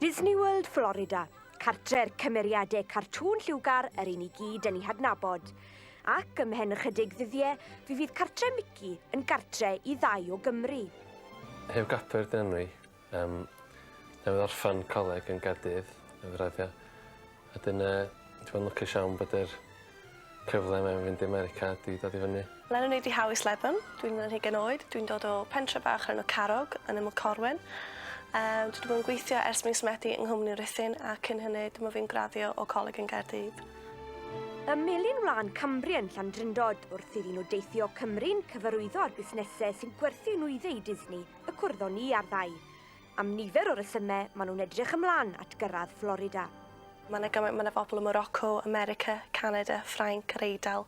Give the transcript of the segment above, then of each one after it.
Disney World Florida, cartre'r cymeriadau cartŵn lliwgar yr un i gyd yn ei hadnabod. Ac ym mhen ychydig ddyddiau, fi fydd cartre Mickey yn gartre i ddau o Gymru. Heb gapur dyn ni. Um, newydd orffan coleg yn Gaerdydd, yn raddio. Wedyn yy dwi yn lwcus iawn bod yr cyfle 'ma i fynd i America 'di dod i fyny. Lennon yw Dihau Slebon, dwi'n yn hugen oed, dwi'n dod o pentre bach o'r enw Carrog yn Ymyl Corwen. Yym dwi 'di bod yn gweithio ers mis Medi yng nghwmni Ruthun a cyn hynny dyma fi'n graddio o coleg yn Gaerdydd. Ym Melin Wlân Cambrian, Llandrindod, wrth iddyn nhw deithio Cymru'n cyfarwyddo â'r busnesau sy'n gwerthu nwyddau i Disney, y cwrddon ni i arddau. Am nifer o resymau, maen nhw'n edrych ymlaen at gyrraedd Florida. Mae 'na gymaint, mae 'na bobl ym Morocco, America, Canada, Ffrainc, yr Eidal.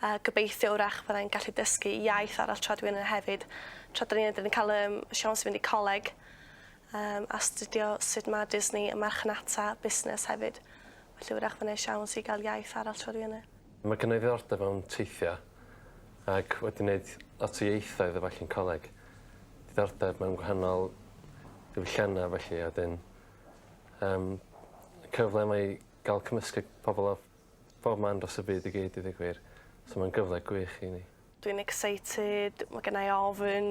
A gobeithio wrach fydda i'n gallu dysgu iaith arall tra dwi yna hefyd. Tra da ni yna, da ni'n cael um, siawns i fynd i coleg um, a studio sut mae Disney y marchnata busnes hefyd. Felly wrach fydda i siawns i gael iaith arall tra dwi yna. Mae gynna i ddiddordeb mewn teithio ac wedi neud lot o ieithoedd a ballu yn coleg. Diddordeb mewn gwahanol diwyllianna a ballu a 'dyn yym cyfle mae i ga'l cymysgu pobol o bob man dros y byd i gyd i ddeu gwir so ma'n gyfle gwych i ni. Dwi'n excited, ma' gynna i ofn,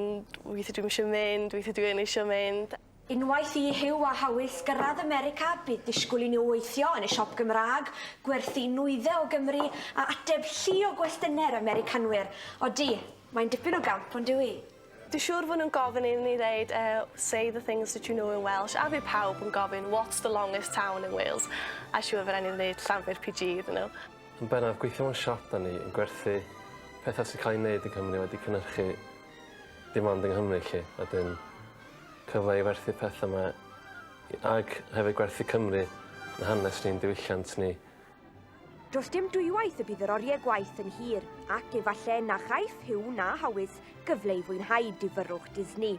weithie dwi'm isio mynd, weithie dwi yn eisio mynd. Unwaith i Huw a Hawys gyrraedd America, bydd disgwyl i nhw weithio yn y siop Gymraeg, gwerthu nwyddau o Gymru a ateb llu o gwestynau'r Americanwyr. Odi, mae'n dipyn o gamp, on'd yw 'i? Dwi siŵr fo' nhw'n gofyn i ni ddeud yy say the things that you know in Welsh a fydd pawb yn gofyn what's the longest town in Wales a siŵr fo' rai' ni ddeud Llanfair PG iddyn nhw. Yn bennaf, gweithio mewn siop 'da ni yn gwerthu petha sy'n cael ei wneud yng Nghymru wedi cynhyrchu dim ond yng Nghymru 'lly a 'dyn cyfle i werthu petha 'ma i ag hefyd gwerthu Cymru yn hanes ni'n diwylliant ni Does dim dwywaith y bydd yr oriau gwaith yn hir, ac efallai na chaiff Hugh na Hawys gyfle i fwynhau difyrrwch Disney.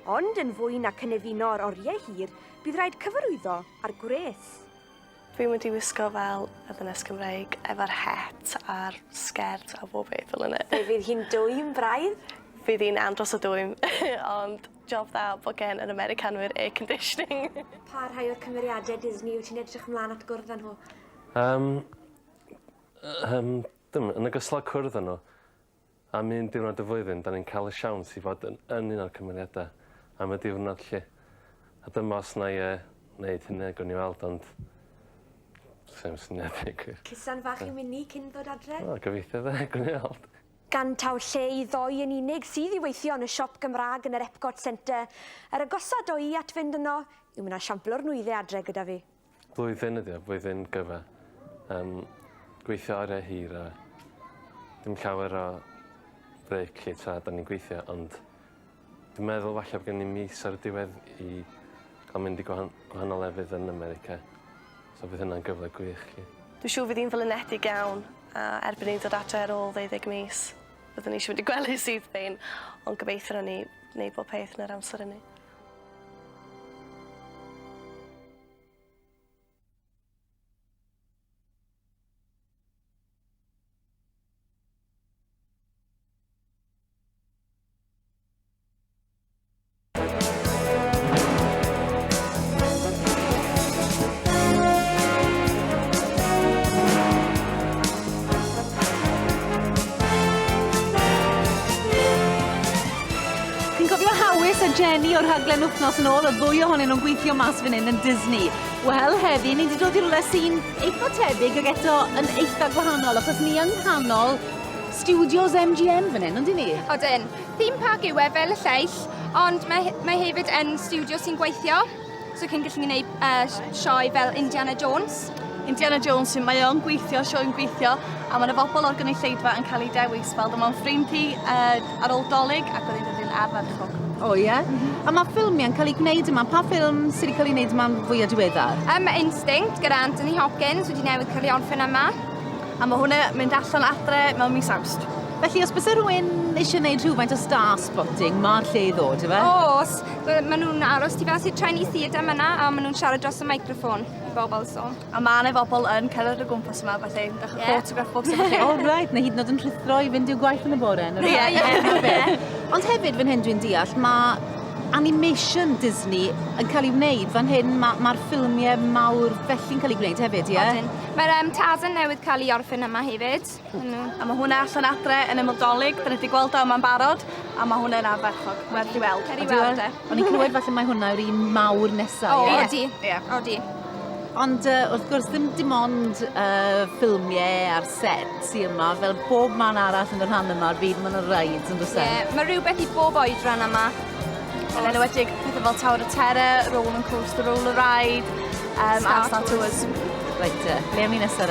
Ond yn fwy na cynefino yr oriau hir, bydd rhaid cyfarwyddo â'r gwres. Dwi'n mynd i wisgo fel y ddynes Cymreig efo'r het a'r sgert a bob beth fel yna. Fe fydd hi'n dwym braidd. Fydd hi'n andros o dwym ond Job dda bod gen yr Americanwyr air conditioning. Pa rhai o'r cymeriadau Disney wyt ti'n edrych ymlaen at gwrdd â nhw? Um, um, dim, yn ogystal â cwrdd â nhw, am un diwrnod y flwyddyn, da ni'n cael y siawns i fod yn, yn un o'r cymeriadau am y diwrnod lle. A dyma os na i uh, wneud hynny, gwn i weld, ond... Sef syniad i gwir. Cysan fach i Winnie cyn ddod adre? O, gobeithio fe, gwn i weld. gan taw lle i ddoe yn unig sydd i weithio yn y siop Gymraeg yn yr Epcot Centre, yr agosa ddo i at fynd yno yw ma' 'na siampl o'r nwyddau adre gyda fi. Blwyddyn ydi o, blwyddyn gyfa. Yym gweithio oriau hir a dim llawer o brêc 'lly tra 'dan ni'n gweithio ond Dwi'n meddwl falle bo' gen i mis ar y diwedd i ca'l mynd i gwahan- gwahanol lefydd yn America so bydd hynna'n gyfle gwych 'lly. Dwi siŵr fydd 'i'n flinedig iawn a erbyn i'n dod adre ar ôl ddeuddeg mis byddwn i isio mynd i gwely syth bin ond gobeithio nawn ni neud bob peth yn yr amser ynny. Jenny o'r rhaglen wythnos yn ôl, oedd fwy ohonyn nhw'n gweithio mas fan hyn yn Disney. Wel, heddi, ni wedi dod i rhywle sy'n Eitha tebyg ag eto yn eitha gwahanol achos ni yng nghanol studios MGM fan hyn, ond i ni? Odyn. Theme park yw e fel y lleill, ond mae, mae hefyd yn studio sy'n gweithio, so chi'n gallu gwneud uh, sioe fel Indiana Jones. Indiana Jones, mae o'n gweithio, sioe'n gweithio, a mae yna bobl o'r gynulleidfa yn cael ei dewis, fel dyma'n ffrind i, uh, Ar ôl 'Dolig ac oedd hi'n flwyddyn ardderchog. O ie? Mm-hmm. A mae ffilmiau'n cael ei gwneud yma. Pa ffilm sydd wedi cael ei wneud yma'n fwyaf diweddar? Um, mae Instinct gyda Anthony Hopkins wedi newid cael ei orffen yma. A mae hwnna mynd allan adre mewn mis awst. Felly, os bys rhywun eisiau gwneud rhywfaint o star spotting, mae'r lle i ddod, efe? Os, maen nhw'n aros ti fel sy'n traen i theatr yma a maen nhw'n siarad dros y microffon i bobl, so. A mae yna bobl yn cerdded o gwmpas yma, beth ei, eich yeah. photograph box yma chi. Oh, right, na hyd yn oed yn rhithro i fynd i'w gwaith yn y bore. Ie, ie. Ond hefyd, fan hyn dwi'n deall, mae animation Disney yn cael ei wneud fan hyn, mae'r ma, ffilmiau mawr felly'n cael ei gwneud hefyd, ie? Yeah? Mae'r um, Tarzan newydd cael ei orffen yma hefyd. A mae hwnna allan adre yn yml dolyg, dyna di gweld o yma'n barod, a mae hwnna yn arferchog, werth i weld. Ceri weld e. O'n i'n clywed falle mae hwnna yw'r un mawr nesa. O, yeah. odi. Yeah. Odi. Ond uh, wrth gwrs ddim dim ond uh, ffilmiau a'r set sy'n yma, fel bob man arall yn y rhan yma o'r byd, mae'n rhaid yn dweud. Yeah, mae rhywbeth i bob oed rhan yma. Yn enwedig pethau fel Tower of Terror, Roll and Coaster, Roll a Ride, um, Star, Star Tours. Tours. Reit, uh, le am i nesaf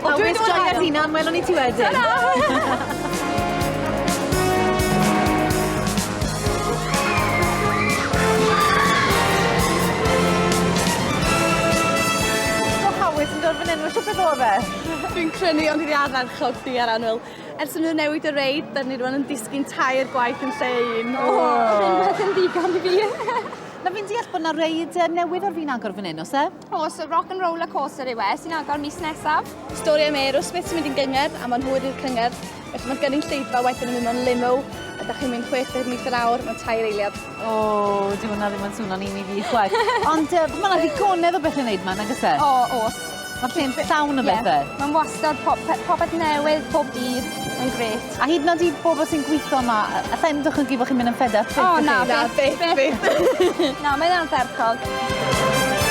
O, dwi wedi bod yn joio'r hunan, welwn i ti wedyn. Ta-ra! Dwi'n crynu ond dwi 'di arfer chwythu ar annwyl. Ers i nhw newid y reid, dyn ni rwan yn disgyn tair gwaith yn lle un. O! Ddim beth yn ddigon i fi. Na fi'n deall bod 'na reid yy newydd ar fin agor fan 'yn o's e? O, so rock and roller coaster yw e, sy'n agor mis nesaf. Stori am Aerosmith sy'n mynd i'n gyngor a mae'n hwyr i'r cyngor. Felly mae'n gynnu'n lleidfa wedyn yn mynd o'n limo a da chi'n mynd 60 mis yr awr, mae'n tair eiliad. O, oh, di hwnna ddim yn swnio'n un i fi chwaith. Ond uh, mae yna ddigonedd o beth yn neud ma'n agos e? O, oh, os. Mae'r lle'n llawn o bethau. Yeah. Mae'n wastad popeth newydd, pob dydd. Mae'n greu. A hyd yn oed i bobl sy'n gweithio yma, alla i'm dychmygu bod chi'n mynd yn fed up byth. O na, na, byth, byth. na, mae'n ardderchog.